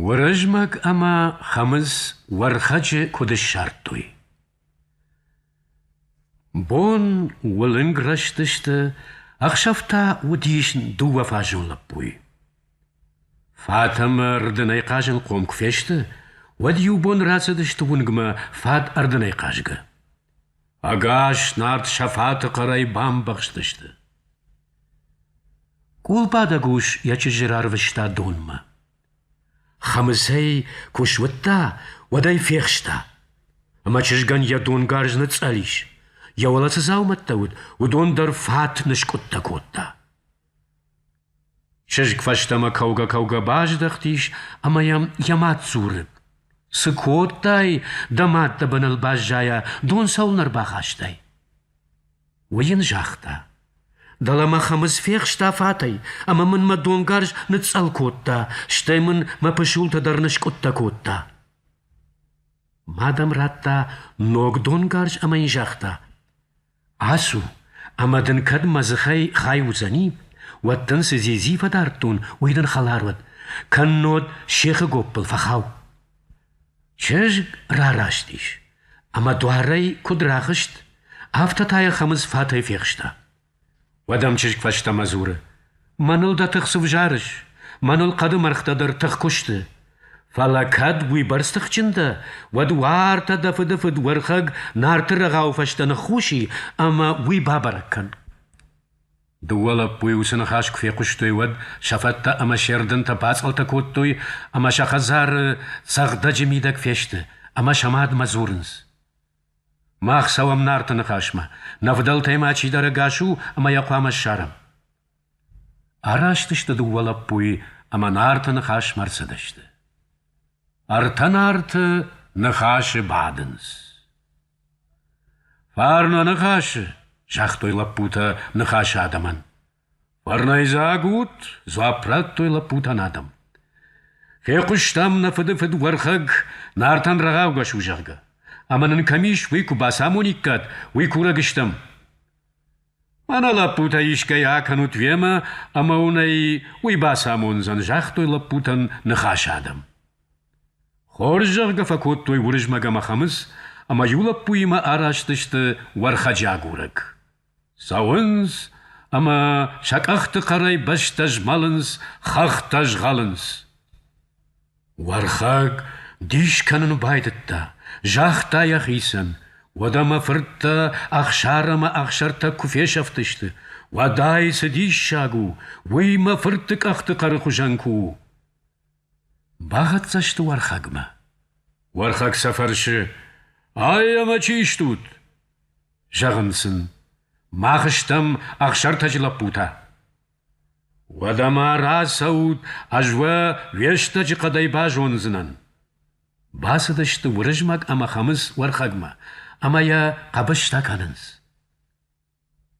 Уырызмӕг ӕмӕ Хӕмыц Уӕрхӕджы куыд ссардтой? Бон уылынг рӕзтысты, ӕхсӕв та уыдис дыууӕфазон лӕппуйы. Фатӕмӕ рдынӕй хъазынхъом куы фесты, уӕд иу бон рацыдысты уынгмӕ фат ӕрдынӕй хъазгӕ. Ӕгас нард сафаты хъӕрӕй бамбӕхстысты. Къулбадӕг ус йӕ чызджы рарвыста донмӕ. Хӕмыцӕй куы суыдта, уӕд ӕй фехста. Ӕмӕ чызгӕн йӕ донгарз ныцъӕл ис. Йӕ уӕлӕ цы дзаумӕттӕ уыд, уыдон дӕр фат ныскъуыдтӕ кодта. Чызг фӕстӕмӕ кӕугӕ-кӕугӕ баздӕхтис ӕмӕ йӕм йӕ мад дзуры: — Цы кодтай, дӕ мад дӕ быныл баззайа, дон цӕуылнӕ ӕрбахастай? Уый йын загъта: — Дӕлӕ мӕ Хӕмыц фехста фатӕй ӕмӕ мын мӕ донгарз ныцъцъӕл кодта, стӕй мын мӕ пысултӕ дӕр ныскъуыдтӕ кодта. Мад ӕм радта ног донгарз ӕмӕ йын загъта: Ацу, ӕмӕ дын кӕд мӕ дзыхӕй хай уыдзӕни, уӕд дын цы дзидзи фӕдардтон, уый дын хӕлар уӕд, кӕннод сехы гоппыл фӕхау. Чызг рараст ис, ӕмӕ дуарӕй куыд рахызт, афтӕ та йӕ Хӕмыц фатӕй фехста. Уӕдӕм чызг фӕстӕмӕ дзуры: Мӕныл дӕ тых цы взарыс? Мӕныл хъӕды мӕргътӕ дӕр тых куы сты. Фӕлӕ кӕд уыйбӕрц тыхджын дӕ, уӕд уартӕ дӕ фыдыфыд Уӕрхӕг Нарты рӕгъауы фӕстӕ ныххуси ӕмӕ уый бабӕрӕг кӕн. Дыууӕ лӕппуйы уыцы ныхас куы фехъуыстой, уӕд сӕ фӕдтӕ ӕмӕ се рдынтӕ бацъӕлтӕ кодтой ӕмӕ сӕ хӕдзары цӕгъдӕджы мидӕг фесты ӕмӕ сӕ мадмӕ дзурынц: Мах цӕуӕм Нарты ныхасмӕ, нӕ фыдӕлтӕй ма чидӕр ӕгас у ӕмӕ йӕ хъуамӕ ссарӕм. Араст сты дыууӕ лӕппуйы ӕмӕ Нарты ныхасмӕ ӕрцыдысты. Ӕртӕ Нарты ныхасы бадынц. «Фарн уӕ ныхасы!» — загътой лӕппутӕ ныхасы адӕмӕн. Фӕрнӕйдзаг ут, дзуапп радтой лӕппутӕн адӕм. Фехъуыстам нӕ фыдыфыд Уӕрхӕг Нартӕн рӕгъаугӕ у, зӕгъгӕ. Ӕмӕ нын кӕм ис, уый куы бацамониккат, уый курӕг стӕм. Мӕнӕ лӕппутӕ исгӕй акӕнут вемӕ, ӕмӕ уын ӕй уый бацамондзӕн, загътой лӕппутӕн ныхас адӕм. Хорз зӕгъгӕ фӕкодтой Уырызмӕг ӕмӕ Хӕмыц, ӕмӕ иу лӕппуимӕ араст сты Уӕрхӕджы агурӕг. Цӕуынц ӕмӕ сӕ къӕхты хъӕрӕй бӕстӕ змӕлынц, хӕхтӕ згъӕлынц. Уӕрхӕг дис кӕнын байдыдта, загъта йӕхицӕн, уӕдӕ мӕ фырттӕ Ӕхсар ӕмӕ Ӕхсӕртӕг куы фесӕфтысты, уӕд ай цы диссаг у, уый мӕ фырты къӕхты хъӕры хуызӕн куы у. Бахӕццӕ сты Уӕрхӕгмӕ. Уӕрхӕг сӕ фӕрсы, Ай ӕмӕ чи стут? Зӕгъын сын, мах стӕм Ӕхсӕртӕджы лӕппутӕ. Уӕдӕ-ма рацӕут, ӕз уӕ уе стӕджы хъӕдӕй базондзынӕн. Бацыдысты Уырызмӕг ӕмӕ Хӕмыц Уӕрхӕгмӕ, ӕмӕ йӕ хъӕбыстӕ кӕнынц.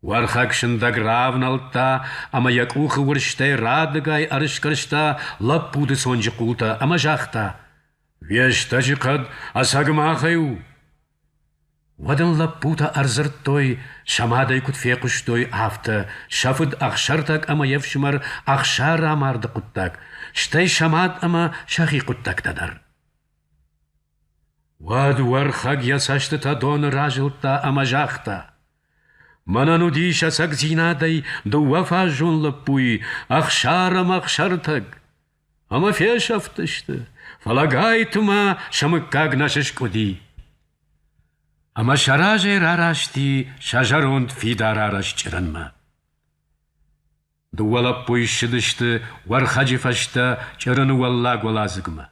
Уӕрхӕг сындӕг равнӕлдта ӕмӕ йӕ къухы уырзтӕй радыгай ӕрысгӕрста лӕппуты цонджы хъултӕ ӕмӕ загъта: «Уе стӕджы хъӕд ӕцӕг махӕй у!» Уӕд ын лӕппутӕ ӕрдзырдтой, сӕ мадӕй куыд фехъуыстой, афтӕ, сӕ фыд Ӕхсӕртӕг ӕмӕ йе фсымӕр Ӕхсӕрамарды хъуыддаг, стӕй сӕ мад ӕмӕ сӕхи хъуыддӕгтӕ дӕр. Уӕд Уӕрхӕг йӕ цӕстытӕ доны разылдта ӕмӕ загъта: Мӕнӕн уыдис ӕцӕгдзинадӕй дыууӕ фаззон лӕппуйы Ӕхсар ӕмӕ Ӕхсӕртӕг. Ӕмӕ фесӕфтысты, фӕлӕ Гайты-ма сӕ мыггаг нӕ сыскъуыди. Ӕмӕ сӕ разӕй рарасти сӕ зӕронд фидар арӕзт чъырынмӕ. Дыууӕ лӕппуйы ссыдысты Уӕрхӕджы фӕстӕ Чъырыны уӕллагуӕладзыгмӕ.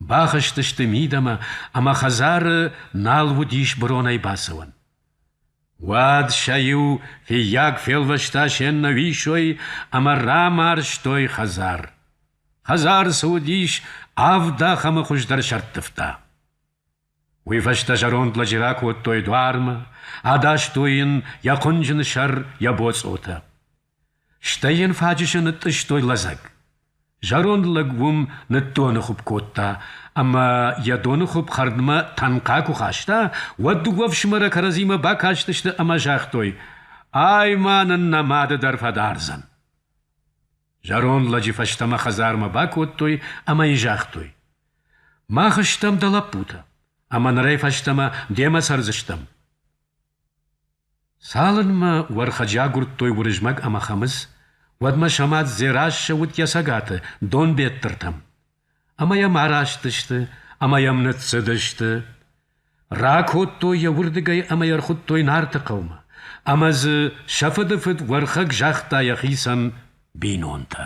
Бахызтысты мидӕмӕ, ӕмӕ хӕдзары нал уыдис быронӕй бацӕуӕн. Уӕд сӕ иу фыййаг фелвӕста се ннӕуисой ӕмӕ рамарзтой хӕдзар. Хӕдзар цы уыдис, авд ахӕмы хуыздӕр сӕрттывта. Уый фӕстӕ зӕронд лӕджы ракодтой дуармӕ, адастой йын йӕ хъуынджын сӕр, йӕ боцъотӕ. Стӕй йын фаджысы нытъыстой лӕдзӕг. Зӕронд лӕг уым ныддоны хуыпп кодта, ӕмӕ йӕ доны хуыпп хӕрдмӕ тӕнхъа куы хаста, уӕд дыууӕ ӕфсымӕры кӕрӕдзимӕ бакастысты ӕмӕ загътой: «Ай ма нын нӕ мады дӕр фӕдардзӕн!» Зӕронд лӕджы фӕстӕмӕ хӕдзармӕ бакодтой ӕмӕ йын загътой: «Мах стӕм дӕ лӕппутӕ, ӕмӕ нырӕй фӕстӕмӕ демӕ цӕрдзыстӕм». Цалынмӕ уӕрхӕджы агуырдтой Уырызмӕг ӕмӕ Хӕмыц, уӕдмӕ Самат Дзерассӕ уыд йӕ цӕгаты, Донбеттыртӕм. Ӕмӕ йӕм араст сты ӕмӕ йӕм ныццыдысты. Ракодтой йӕ уырдыгӕй ӕмӕ йӕ рхуыдтой Нарты хъӕумӕ, ӕмӕ дзы сӕ фыдыфыд Уӕрхӕг загъта йӕхицӕн бинонтӕ.